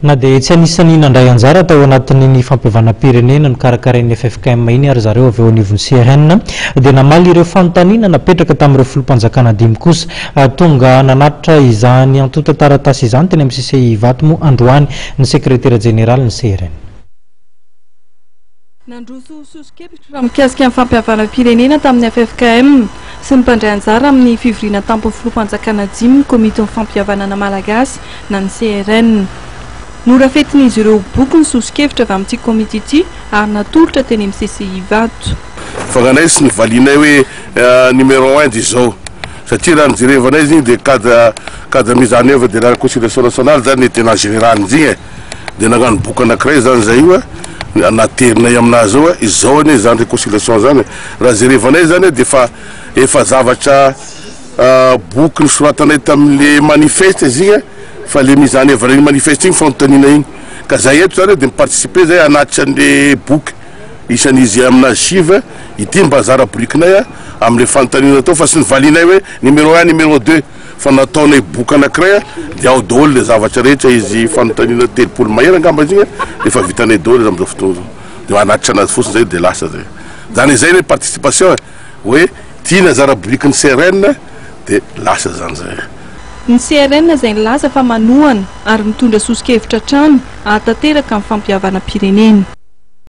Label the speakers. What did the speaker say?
Speaker 1: Na dia tsy anisan'ny nandray anjara tao anatin'iny fampihavanam-pirenena nokarakarain'ny ffkm iny ary zareo avy eo anivon'ny CRN dia namaly ireo fanontaniana napetraka tamin'ireo Filoham-panjakana dimy kosa. Tonga nanatitra izany antontan-taratasy izany teny amin'ny CCI Ivato moa androany ny Sekretera Jeneralin'ny CRN.
Speaker 2: Nandroso soso-kevitra mikasika ny fampihavanam-pirenena tamin'ny ffkm sy ny mpandray anjara amin'ny fivoriana tampon'ny filoham-panjakana Jim ny Komitin'ny Fampihavanana Malagasy na ny CRN. Norafetin'izy ireo boky ny soso-kevitra avy amin'ity komity ity ary natolotra teny amin'ny CCI Ivato. Fanganay sy ny
Speaker 3: valianay hoe numéro un dia izao satria raha ny jerevanay izy iny dia cadre cadre mise en oeuvre de la reconciliation nationale zany ny tenant général-ny izy iny e! Dia nagnano boky anankiray zany zay io a, naterinay aminazy ao hoe izao anie zany reconciliation zany e, raha jerevanay zany a dia efa efa zavatra boky nosoratanay tamin'le manifeste izy igny a, fa le mizana hevitra iny manifeste iny fanontaniana iny, ka zay eto zany dia mi-participer zay hanatitra an'le boky isan'izy aminazy sivy ity mba zara birikinay a, am'le fanontaniana atao fa sy ny valianay hoe numéro un, numéro deux. Fa nataonay boky anakiray dia ao daholo le zavatra rehetra izy fanontaniana telopolo mahery angamba izy igny dia efa vitanay daholo izy amizao fotoana zao dia hanatitra anazy fotsiny zay dia lasa zay zany izay le participation e hoe tia ny anjara biriky ny CRN dia lasa zany zay. Ny CRN
Speaker 2: izay nilaza fa manohana ary mitondra soso-kevitra hatrany hahatanteraka ny fampihavanam-pirenena.